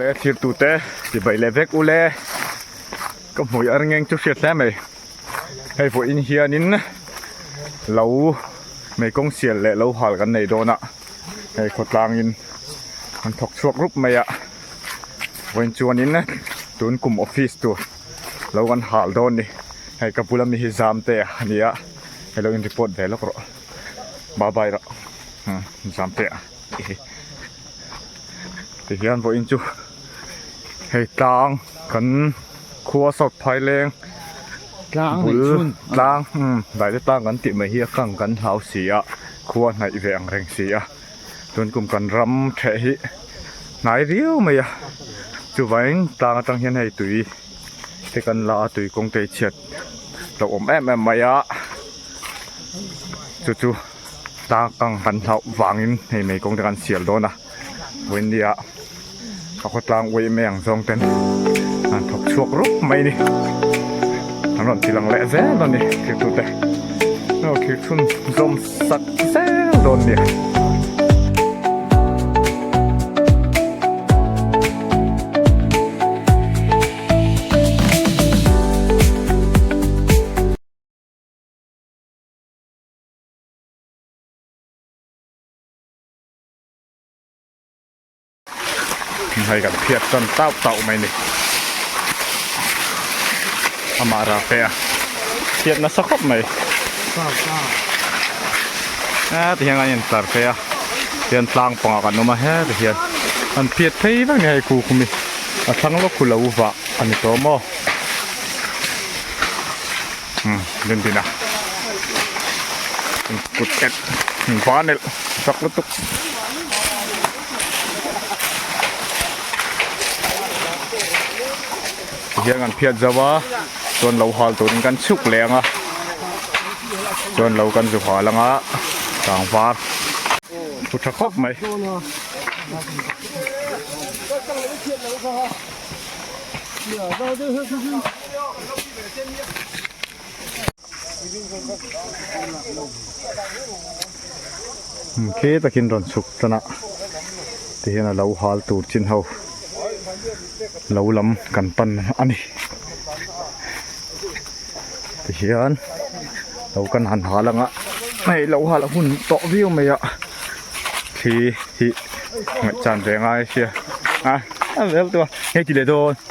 le thir tu te ti bai le vek u le ka hmui ar ngeng chu hriat hle mai hei vawih in hian in lo mei kawng sial leh lo hal kan nei dawn a hei khawtlang in an thawk chhuak rup mai a vawiin chuan in tun kum office tur-- lo kan hal dawn ni hei ka bula mi hi zam te a ni a hei lo in report ve lawk rawh bye bye rawh hmm zam te a tih hi tihian vawiin chu hei tlang kan khua sawt phai leng tlang bul tlang hmm daihte tlang kan tih mai hi a kang kan hlau si a khua hnaih ve ang reng si a. chuan kum kan ram theh hi hnai riau mai a chuvain tlang atang hian hei tui te kan la a tui kawngte hi chhiat lo awm em em mai a chu chu tlang atang kan hlauh vangin hei mai kawngte kan sial dawn a vawiin ni ah. Ka khawtlang uai em e ang zawng ten an thawk chhuak rup mai ni. An rawn ti lang leh zel a ni thirtu te. No thirthun zawm sak zel dawn ni. Hei kan phiat chuan tauh tauh mai ni. Amah rak te a. Phiat nasa khawp mai. Heti hian kan intlar phei a. Hian tlang panga kan awm a heti hian. Kan phiat phei vek ni hei khuh khumi. A thlang lawk khu lo vah a ni tawh maw. Umm len din a kut ket va nelh sak lutuk tihian kan phiat zauh a chuan lo hal turin kan chhuk leh ang a chuan lo kan zu hal ang a tlangvar thu tha khawp mai khe takin rawn chhuk tan a ti hian alo hal tur chin ho lo lam kan pan a ni ti hian lo kan han hal ang a hei lo hal a hun tawh viau mai a khi hi ngaih chan ve ngai a sia a a zel tu a hei ti leh dawn.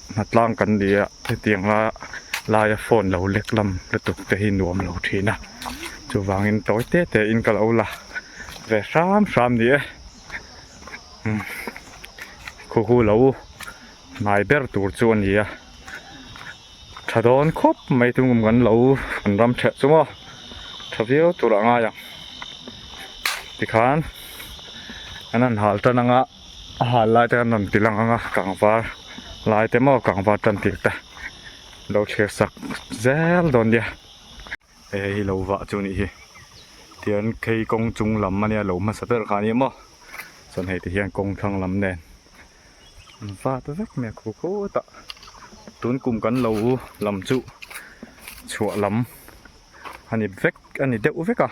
hmatlang kan ni a hetiang a laia phone lo lek lam lutuk te hi nuam lo thin a chuvangin tawi te te in ka lo la ve hram hram ni e khuhu lo hnai ber tur chu a ni a tha dawn khawp mai chu kan lo kan ram chhe chung a tha viau tur a ngai ang tikhan an han hal tan ang a. A hal lai te an rawn ti lang ang a, kangvar lai te maw, kangvar tantir te lo chhir sak zel dawn nia. He hei hi lo vah chu nih hi, tian kei kawng chung lam a nia, lo hmasa ber kha ania maw, chuan hei te hian kawng thlang lam nen an vat vek mai a khaw khawt a, tun kum kan lo u lam chu chhuah lam. a ni vek a ni deuh vek a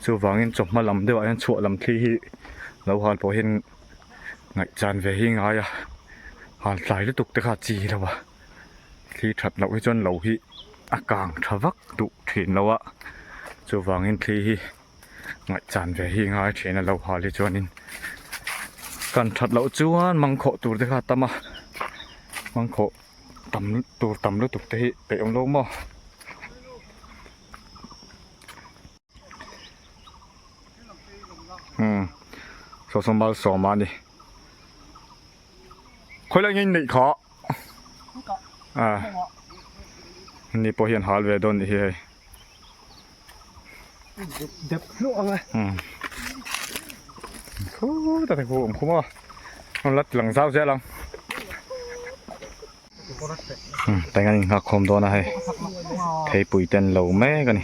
chuvangin chawhma lam deuhah hian chhuah lam thli hi lo hal pawh hian ngaihchan ve hi ngai a hal tlai lutuk te kha a chi lo a thli that loh hi chuan lo hi a kang tha vak duh thin lo a chuvangin thli hi ngaihchan ve hi ngai thin a lo hal hi chuanin kan that loh chuan mangkhawh tur te kha a tam a mangkhawh-- tam tur tam lutuk te hi peih awm lo maw hmm saw saw mal sawm a ni khawih loh angin neih kha à ni pawh hian hal ve dawn ni hi hei dep hluah ang a thu ta te pawh awm khawp a rawn la tlang zau ziah lang teng an inhak khawm dawn a hei theipui ten lo mek a ni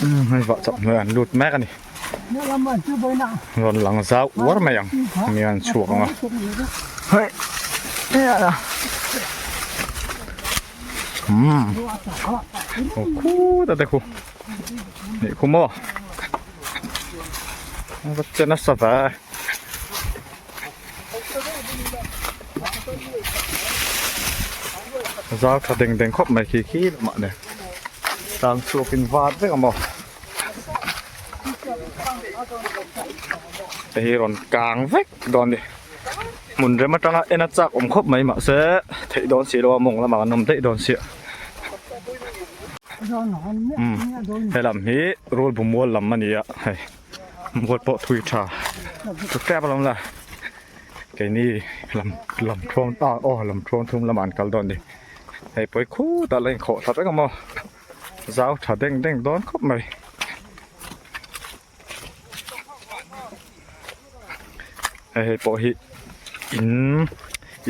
Hei vah chauh hnuaiah an lut mek a ni. Rawn lang zau uar mai ang hemi an chhuak ang a. Hei. Umm. Aw khu ta te khu. Nih khu maw. Vatchen a sa va. zau tha deng deng khawp mai khi khi la mah nè tlang chhuak in vat vek a maw hei hi rawn kang vek dawn ni hmun rem atanga en a chak awm khawp mai mah se theih dawn si lo a mawng lamah kan awm daih dawn si a he lam hi rulbuhmual lam a ni a hei. Buat pawh thui tha tuk tep a lo la. Keini lam lam thawm ta aw lam thawm thum lamah an kal dawn ni. Hei pawi khut ala inkhawh tha vek a maw. Zau tha deng deng dawn khawp mai. Hei hei pawh hi in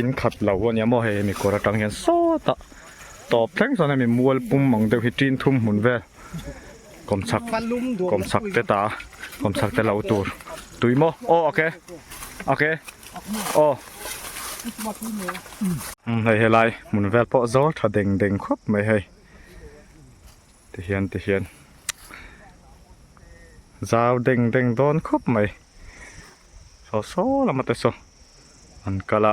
in khat lo a nia maw hei hemi kawr atang hian sawta tawp thleng chuan hemi mual pum ang deuh hi tin thum hmun vel. Kum chak kum chak te ta kum chak te lo tur tui maw aw ok ok aw um hei helai hmun vel pawh zâwr tha deng deng khawp mai hei ti hian ti hian zau deng deng dawn khawp mai saw saw lama te saw an kal a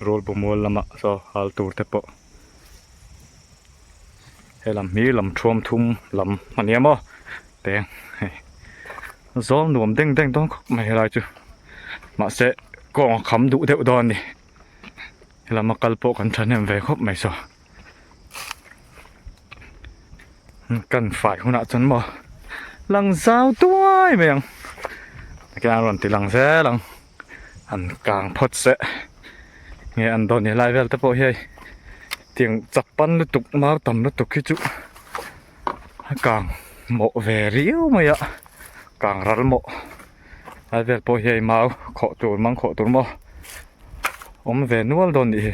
rul bu mual lama saw hal tur te pawh. he lam hi lam thuam thum lam a nia maw teng he zawl nuam deng deng dawn khawp mai helai chu mahse kawng a kham duh deuh dawn a ni he lama kal pawh kan thahnem ve khawp mai saw kan fai hunah chuan maw lang zau duai mai ang ka rawn ti lang zel ang. an kang phawt seh nge an dawn nih lai vel te pawh hi hei tiang chak pan lutuk mau tam lutuk hi chu a kang mawh ve riau mai a kang ral mawh lai vel pawh hi hei mau khawh tur mang khawh tur maw awm ve nual dawn nih hi.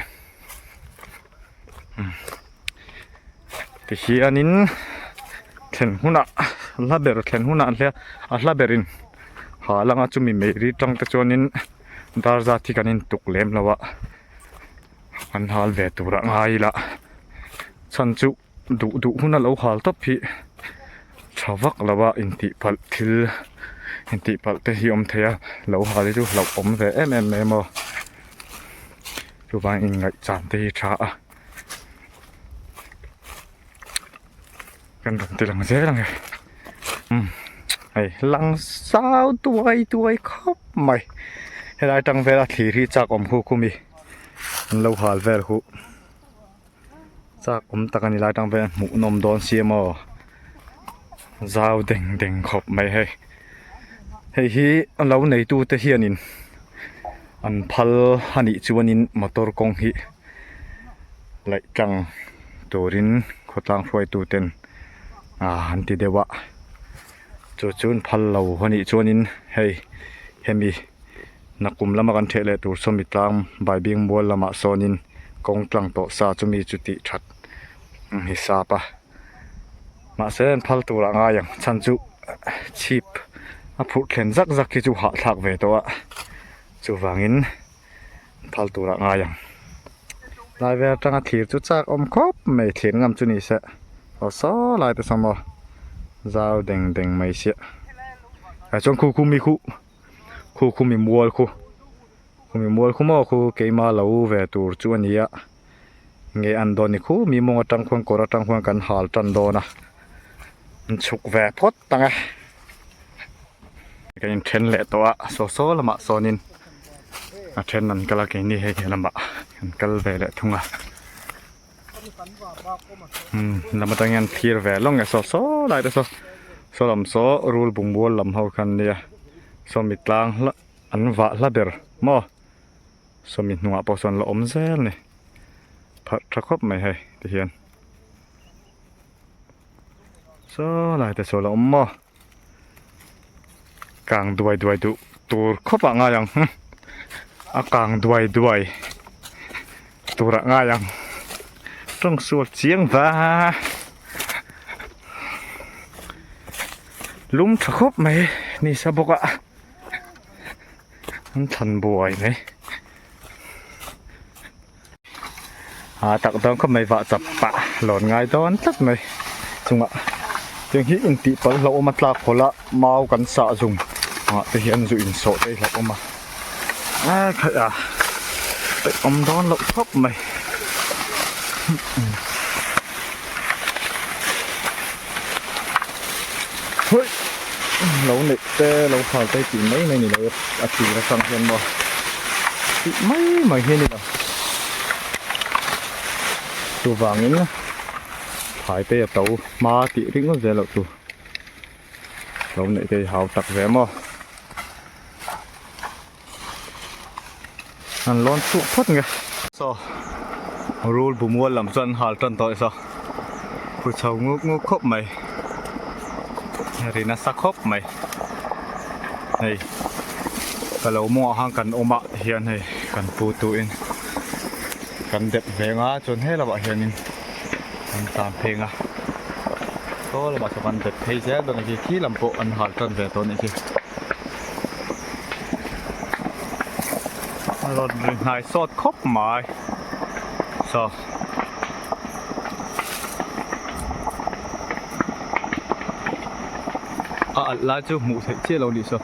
tihianin thlen hmunah a hla ber thlen hmunah a hla a hla berin halang a chumi mehri tang te chuanin dar zat hi kan in tuk lem lo a an hal ve tur ah ngai ila chhan chu-- Duh duh hun a lo hal tawp hi tha vak lo a intihpalh thil intihpalh te hi awm thei a lo hal hi chu hlauh awm ve em em mai a maw chuvang inngaihchhan te hi a tha a kan rawn ti lang zel ang e umm hei langsau tuai tuai khawp mai helai atang vela thlir hi chak awm khuh khuh mi an lo hal vel huh. chakawm tak a ni lai tang ve hmuh nawm dawn si a maw zau deng deng khawp mai hei hei hi a lo neitu te hian in an phal a nih chuan in motor kawng hi laih tlang turin khawtlang hruai tu ten ahh an ti deuh a. Chu chu an phal lo a nih chuanin hei hemi Nakum lama kan theih leh tur saw mi tlang Baibing mual lamah sawnin kawng tlang tawh sa chumi chu tih that an ni sap a. Mahse an phal turah ngai ang chhan chu chhip a phurh thlen zak zak hi chu hahthlak ve tawh a, chuvangin. phal turah ngai ang lai vel atanga thir chu chak awm khawp mai thlirh ngam chu nise aw saw lai tesa maw zau deng deng mai sia ah chuan khu khu mi khu khu khu mi mual khu khu mi mual khu maw khu keima lo ve tur chu ania. nge an dawn ni khu mi mawng atang khuan kawr atang khuan kan hal tan dawn a in chhuk ve phawt ang e kan in then leh tawh a saw saw lamah sawn in a then an kal a kei ni hei he lamah kan kal ve leh thung a umm lam atang hian thir ve lawng nge saw saw lai te saw saw lam saw rul bungrawl lam ho khan nia saw mi tlang hla an vah hla ber maw. sawmi hnungah pawh sawn la awm zel ni pharh tha khawp mai hei ti hian saw lai te chu ala awm maw kang duai duai duh tur khawpah ngai ang hum a kang duai duai turah ngai ang tawng sual chiang va lum tha khawp mai ni sa bawk a. An thlan buai mai a tak dawn khawp mai vah chap pah lawn ngai dawn tlat mai chungah heng hi intihpal hlauh awm a tlak khawla mau kan sah zung ah te hian zu insawh daih hlauh awm a ah phaiah peih awm dawn loh khawp mai. Hawih! Lo neih te, lo khal te tih mai mai ni lo a tir atang hian maw? Tih mai mai hi a ni lo. Chuvangin Phaitei a to hma tih ringawt zel loh chu lo neih te hi hau tak ve maw? an lawn chuk phawt nge so rul bumual lam chuan hal tan tawh isa pu chho nguk nguk khawp mai ri nasa khawp mai hei ka lo mawng ahang kan awm ah hian hei kan pu tu in kan dep veng a chuan he lamah hian in kan tan pheng a saw lamah saw kan dep phei zel dawn a khi khi lam pawh an hal tan ve tawh a nih khi. Road ri hnai sawt khawp mai so a alh lai chu hmuh theih chiah lo nih so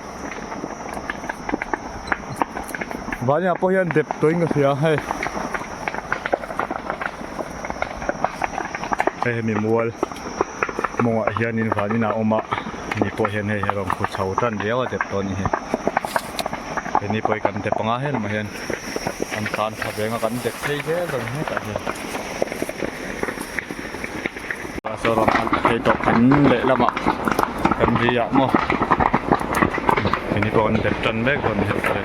vania pawh hian dep tawin ka hria hei hei hemi mual mawngah hianin van inah a awm a ni pawh hian hei hi rawn khaw chho tan riau a dep tawh a ni hei he ni pawh hi kan dep anga helmah hian an tan tha veng a kan dep phei zel dawn hetah hian. Mizoram an la phei tawh kan leh lamah kan ri ah maw keni pawh an bet tan mek dawn ni hek tawh e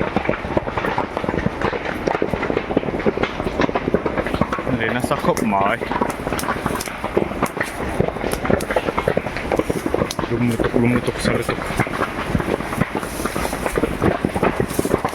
leh nasa khawp mai lum lutuk lum lutuk sa lutuk.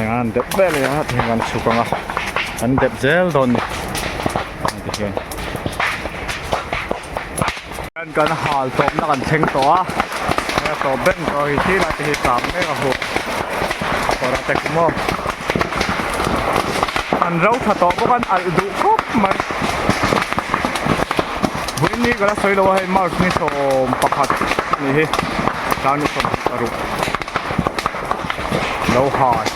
engah an dep ber leh a tih hian kan chhuk ang a an dep zel dawn ni ang tih hian hian kan hal tawpna kan thleng tawh a hei a tawp ber ni tawh ang tih laite hi chak mek a hawk a kawrah te kum aw an roptha tawh bawk a an alh duh khawp mai. vawiin ni ka la sawi lo a hei march ni sawm pakhat a ni hi tlâng ni sawm paruk lo hai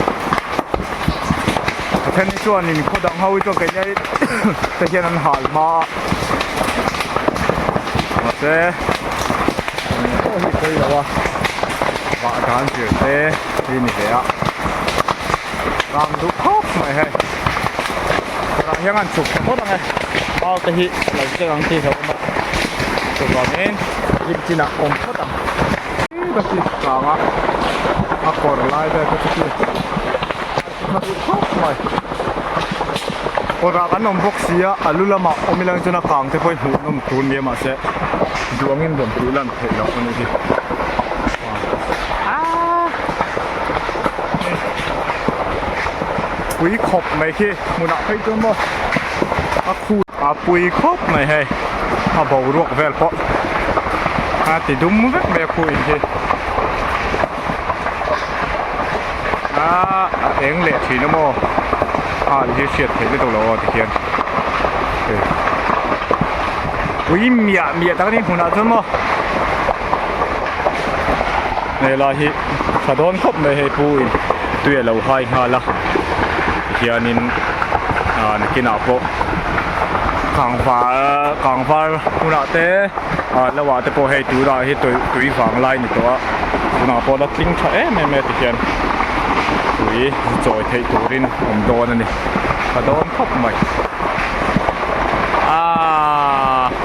pathian ni chuan in khaw dang ho hi chuan keini te hian an hal hma a mase pawh hi sawi lo a vah dan zir te hi ni hle a rang duh khawp mai hi khawrah hian an chhuk ta vawt ang e mau te hi a lo chelh ang tih a lo awm a chuvangin hlim chinah a awm phawt ang eng ka hriat chang a a kawr lai vel te chu chu a hla duh khawp mai kawrah kan awm bawk si a a lu lamah awm ilo in chuan a kang te pawh hi hmuh nawm tûr ni e mahse duangin bawmhtuh lan theih loh a ni hi. pui khawp mai khi hmunah phei chu maw a khu a pui khawp mai hei a boruak vel pawh a ti dum vek mai a khu in hi a a eng leh thin a maw a hi hriat theih mai tawh lo a tikhian pui miah miah tak a ni hmunah chuan maw. helai hi tha dawn khawp mai hei pu in tui a lo hai nghal a tihian in ahh nakin ah pawh kang var kang var hmun ah te ah lo ah te pawh hei tur ah hi tui tui vang lai a ni tawh a tun ah pawh a la tling tha em em mai a tihian tui chawi theih tur in awm dawn a ni tha dawn khawp mai aaa.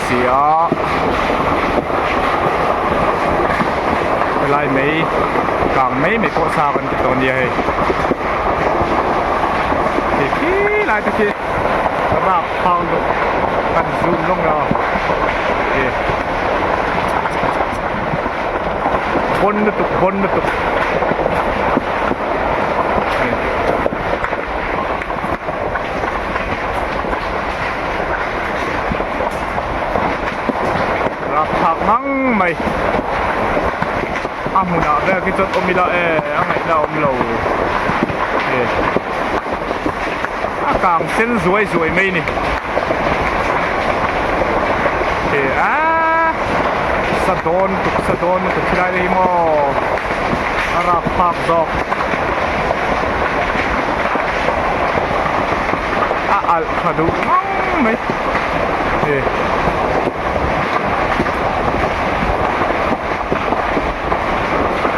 si a. Helai mai kang mai mai pawh sa kan ti tawh nia hei. Hei khi lai te khi rak phang duh kan zum lawng lo. Hei. Bon lutuk bon lutuk. Hei. rak phak hmang mai a hmunah vel khi chawt awm ila e a ngaihna a awmlo e a kang sen zuai zuai mai ni e a sa dawn tuk sa dawn tuk hi lai leh maw a rak phak zawk a alh tha duh ngam mai e.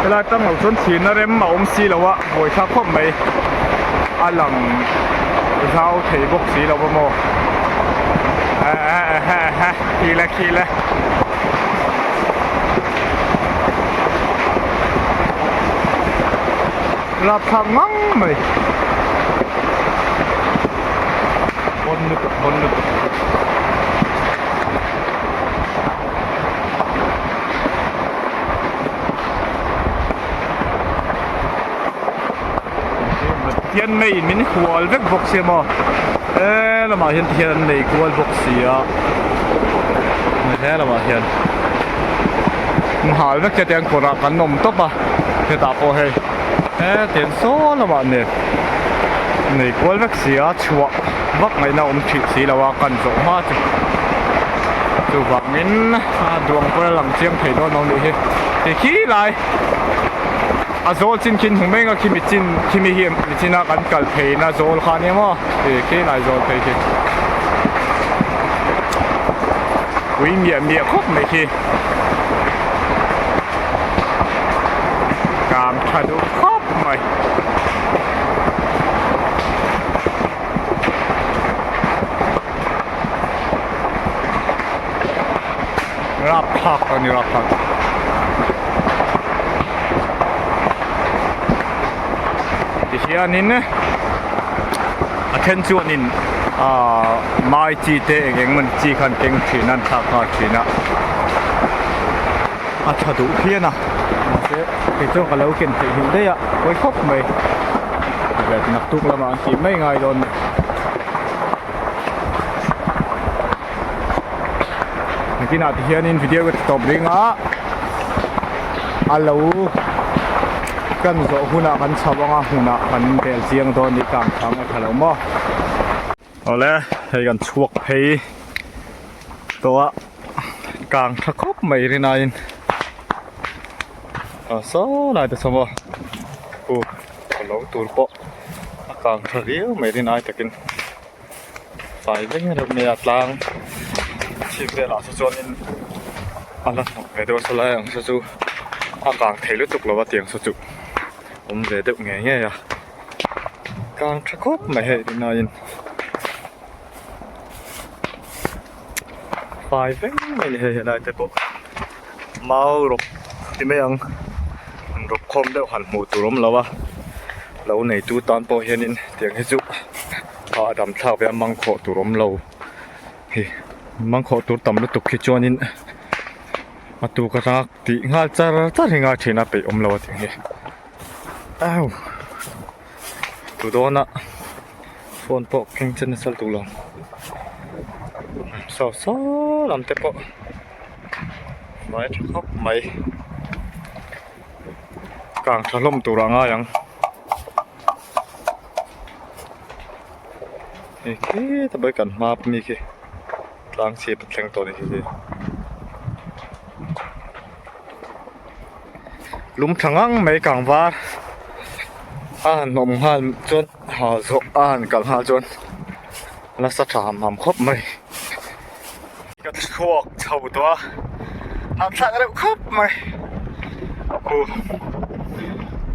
Helai tang lo chuan thirna rem a awm si lo a buai thla khawp mai a lang zau thei bawk si lo a maw eehh khi la khi la. Hlap phak ngang mai. Hawn lutuk hawn lutuk. Hian mei in min hual vek bawk si maw. He lamah hian tihian an nei kual bawk si a. He lamah hian. Nghal vek che tiang kawrah kan awm tawp a. hetah pawh hei he tiang sawi lamah nge nei kual vek si a chhuah vak ngaihna a awm thin si lo a kan zawh hma chu chuvangin duang pawh a lang chiang thei dawn lo anih hi tikhi lai a zawl chin khi hnu mai ang a khi mi chin khi mi hi mi china kan kal thei na zawl kha nia maw tikhi lai zawl phei khi ui miah miah khawp mai khi. Kam tha duh khawp mai. Rap thlak a ni rap thlak. Tihianin. A then chuan in aah mai chi te eng eng mawni chi kha an keng thin a, an thlak nghal thin a. A tha duh phian a. Mahse kei chuan ka lo ken theih hlim daih a, pawi khawp mai. Naktuk lamah an tih mai ngai dawn nen. Nitinah ti hian in video ka ti tawp ring a, a lo kan zawh hunah kan chho anga hunah kan bel chiang dawn nih ka ang chang a tha lo maw. Awle hei kan chhuak phei tawh a kang tha khawp mai rin aiin kang saw lai ta chho maw. Hu ka lo tur pawh a kang tha viau mai rin ai takin. fai vek reuh mai a tlang chhik velah se chuanin a la hnawk ve deuh a saw lai ang se chu a kang thei lutuk lova tiang se chu awm ve deuh ngei ngei a kang tha khawp mai hei ri naiin. fai vek mai a ni hei helai te pawh mau rawk ti mai ang an rawk khawm deuh han hmuh tur awm lo a lo neitu tan pawh hian in tiang hi chu a a dam thlak ve a mang khawh tur awm lo hi mang khawh tur tam lutuk khi chuan in a tu ka tang a tih nghal char char hi ngai thin a peih awm lo a tih hi au. Tlu dawn a phone pawh keng che nasal duh lo so so lam te pawh vai tha khawp mai kang tha hlawm tur ah a ngai ang hei khit a kan hma a mi khi. tlang chhip a thleng tawh ni hi hi lum thla ngang mai kang var a han awm nghal chuan hah zawh a han kalh nghal chuan nasa tha ham ham khawp mai ka chhuak chho tawh a a thlak reuh khawp mai pu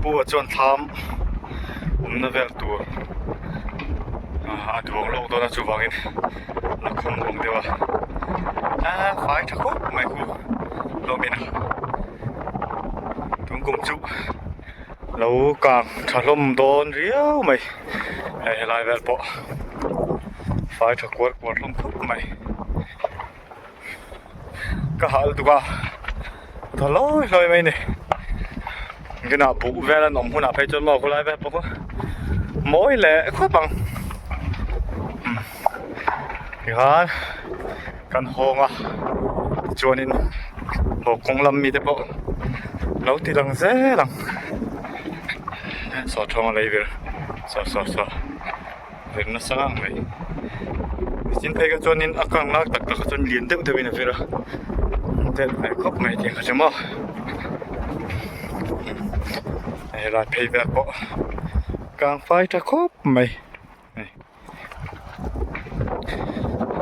pu ah chuan thlam awmna vel tur a duang lawk dawn a chuvangin. lo kham vawng deuh a aa fai tha khawp mai khu hlawmin a tun kum chu lo kang tha hlawm dawn riau mai hei helai vel pawh fai tha kual kual hlawm khawp mai. ka hah lutuk a ka tha hlawi hlawi mai a ni ingenah buh vel an awm hunah phei chuan maw khawlai vel pawh mawi leh khawp ang tikhan kan hawng a tichuanin haw kawng lam mite pawh lo ti lang zel ang sawt thawmna lei vel sawh sawh sawh. veng nasa ang mai Christian Phaiga chuanin a kang lak tak takah chuan lian deuh deuhin a vêl a a tel ve khawp mai tih ka hre maw helai phei vêk pawh kang fai ṭha khawp mai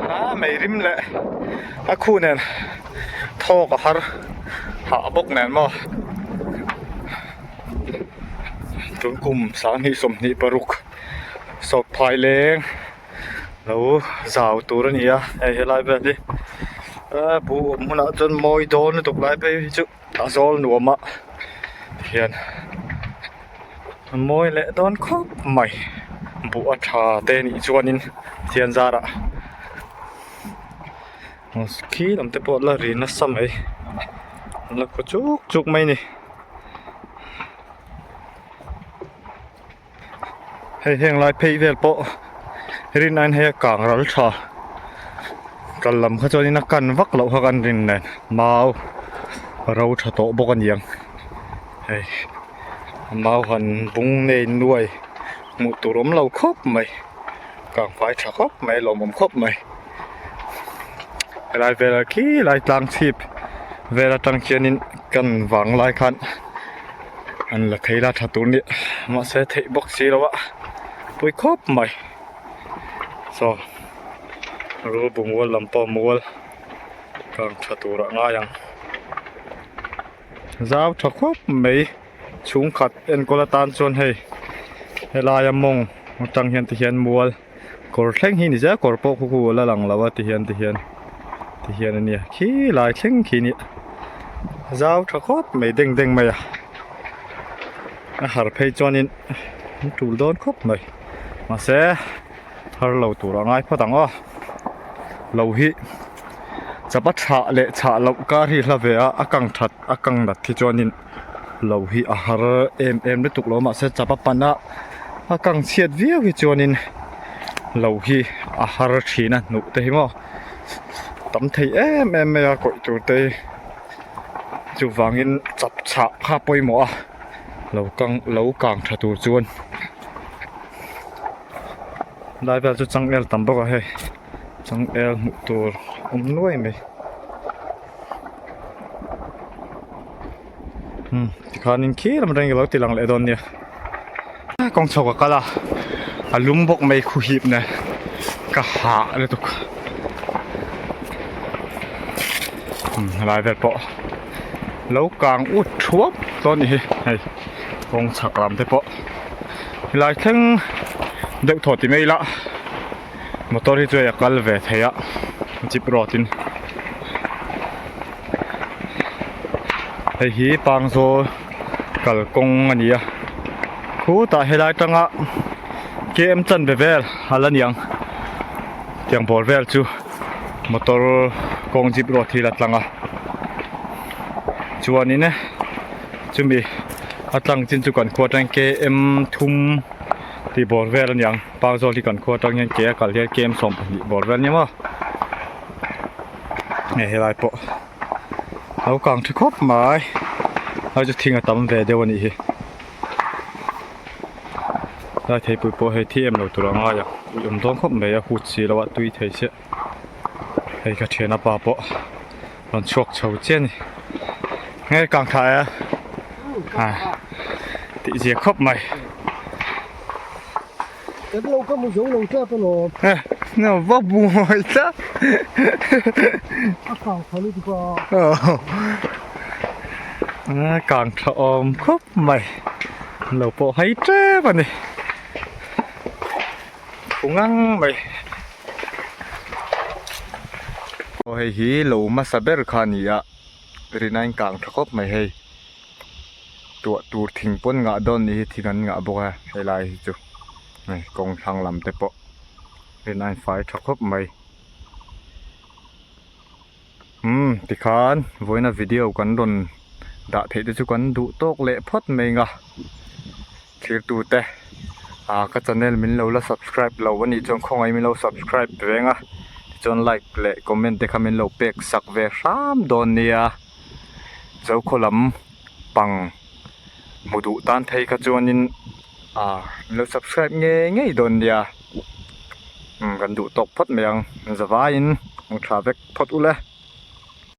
a meirim leh a khu nen thâwk a har hah bawk nen maw tun kum sâng hnih sawm hnih paruk. sawp phai leng lo zau tur a ni a hei helai ber hi eee pu awm hunah chuan mawi dawn lutuk lai phei hi chu a zawl nuam a hian mawi leh dawn khawp mai buh a tha te nih chuan in chianzar ah khi lam te pawh la ri nasa mai la khaw chuk chuk mai a ni. hei heng lai phei vel pawh rin ain heia kang ral tha kal lam kha chuan in a kan vak loh kha kan rin nen mau a ro tha tawh bawk a niang hei mau han bung nei nuai hmuh tur awm lo khawp mai kang fai tha khawp mai lawmawm khawp mai. helai vela khi lai tlang chhip vel atang hianin kan vang lai khan an la thei la tha tur a ni mahse theih bawk si lo a pui khawp mai so ru bungrawl lam pawh mual kang tha tur a ngai ang zau tha khawp mai chhungkhat enkawl atan chuan hei helaia mawng atang hian tihian mual-- kawr thleng hi ni zia kawr pawh khuku a la lang lo a ti hian ti hian ti hian a nia khi lai thleng khi nia zau tha khawp mai deng deng mai a a har phei chuanin a tul dawn khawp mai mahse har lo tur a ngai phawt ang aw lo hi chapa thlah leh chhah loh kar hi hla ve a a kang that a kang nat khi chuanin-- lo hi a har em em lutuk lo mah se chap a pan a a kang chhiat viau hi chuanin lo hi a har thin a hnuh te hi maw tam thei em em mai a kawih tur te hi chuvangin chap chhah kha pawimawh a lo kang lo kang tha tur chuan lai vel chu chang el tam bawk a hei. changel hmuh tur awm nuai mai hmm tikhanin khi lam atangin ka lo ti lang leh dawn nia a kawng chho ka kal a a lum bawk mai khuhip nè ka hah lutuk hmm helai vel pawh lo kang ut thuap tawh a nih hi hei kawng chak lam te pawh helai thleng deuh thawt ti mai ila. motor hi chuan a kal ve thei a jeep road in hei hi pangzaw kal kawng a ni a khutah helai atanga K M chanve vel a la niang tiang pawl vel chu motor kawng jeep road hi a la tlang a chuanin chumi a tlang chin chu kan khuh atang hian K M thum tih bawr vel a ni ang. Pang Zawng hi kan khua atang hian ke a kal hian kem sawm pahnih bawr vel nia maw hei helai pawh lo kang ṭha khawp mai hei chu thing a tam ve deuh a nih hi helai theipui pawh hei thi em lo tur a ngai ang ih awm dawn khawp mai a hut si lo a tui thei chiah. hei ka thian apa pawh rawn chhuak chho chian ni he kang tha e ha tih ziah khawp mai em lo ka mu zo lo ta ta lo he no va bu mai ta a kang tha lu ti pa a kang tha om khawp mai lo pawh hai tlem a ni thu ngang mai Aw hei hi lo hmasa ber kha a ni a, rin a inkang tha khawp mai hei. Tuah tur thing pawn ngah dawn nih hi thing an ngah bawk a, he lai hi chu. Hei kawng thlang lam te pawh rin a infai tha khawp mai. Umm tikhan vawiina video kan rawn dah theih te chu kan duh tawk leh phawt mai anga thlir tute aaa ka channel min lo la subscribe lo a nih chuan khawngaih min lo subscribe ve ang a tichuan like leh comment te kha min lo pek sak ve hram dawn nia Zokhua lam pang hmu duh tan phei kha chuanin aaa min lo subscribe ngei ngei dawn nia. kan duh tawk phawt mai ang zavaiin kan thlah vek phawt ul e.